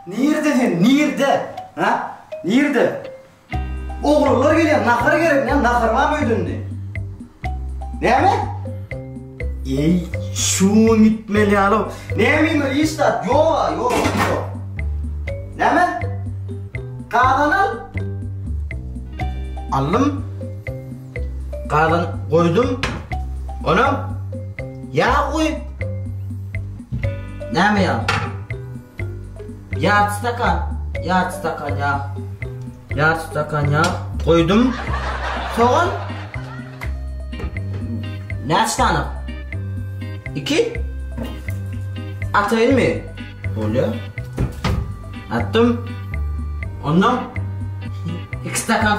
Nirde sen, nirde? Ha? Nirde? Oglanlar gelýär, nahar gerek, näme nahar bar öýdünde? Näme? Ey, şu gitmeli ýaly. Näme ýa iş zat? Ýok, ýok, ýok. Näme? Gazan al. Allym Gazyny goýdum. Onam ýag goý. Näme ýag? Ýarty stakan, ýarty stakan ýag. Ýarty stakan ýag goýdum. Sogan Näçe sany? Iki? Atayın mı? Bolya. Attım. Ondan iki stakan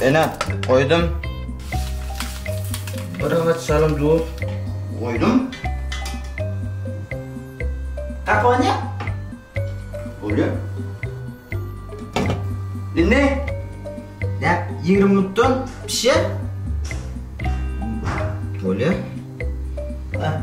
Ene, goýdum. Bir agaç salym duz. Goýdum. Kakony. Bolýar. Indi näp 20 minutdan pişer. Bolýar. Ha.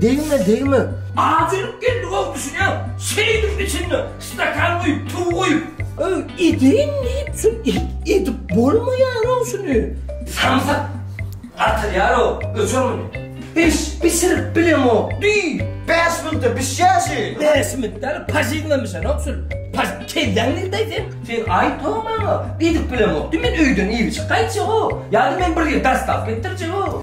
Degme degme. Ajylyp geldi gowy düşünýäň. Şeýdip içinde stakan guýup tuw guýup. Öý edeýin diýip şu edip bolmaýarow şuny. Samsyk gatyrýarow öçür muny. Hiç bişirip bilemok diý. Bäş minutda bişýär şi. Bäş minutda pažiglemişenok şul. Paž kelläň nirdeý sen. Sen aýtma maňa edip bilemok diý men öýden iýip içip gaýtjagow. Ýa-da men bir ýer dastaw etdirjegow.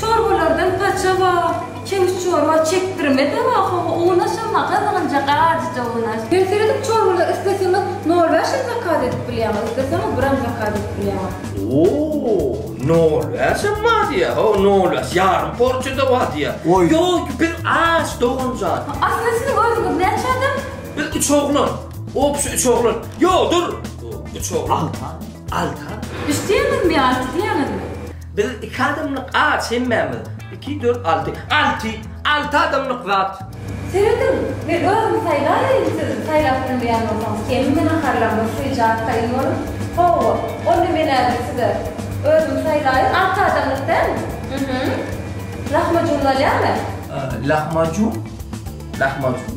Çorbalardan paça bar, çewiş çorba çekdirmede bar hawa unaşa maga zyňjak ajyja unaş. Men seredip çorbalar isleseňiz nol bäş hem zakaz edip bilýäňiz isleseňiz biram zakaz edip bilýäňiz. Ooo nol bäş hem bar diýýä ho nol bäş ýarym porsiýada bar diýýä Goý. ýok biz aç doganjan. Asly siziň özüňiz näçe adam? Biz üç oglan. Obşi üç oglan. Ýok dur. Üç oglan. Altan. Altan. Üç diýýäňizmi ýa alty diýýäňizmi? Biz iki adamlyk aç hemmämiz. Iki, dört, alty. Alty! Alty adamlyk zat! Serediň, men özüm saýlaýaýyn, siz saýlap bilmeýän bolsaňyz kemmi naharlaryňyz syjak taýyn boluň. Hawa, onda men häzir size özüm saýlaýyn, alty adamlyk dälmi? Hü-hü. Lahmajun bolýamy? Lahmajun, lahmajun.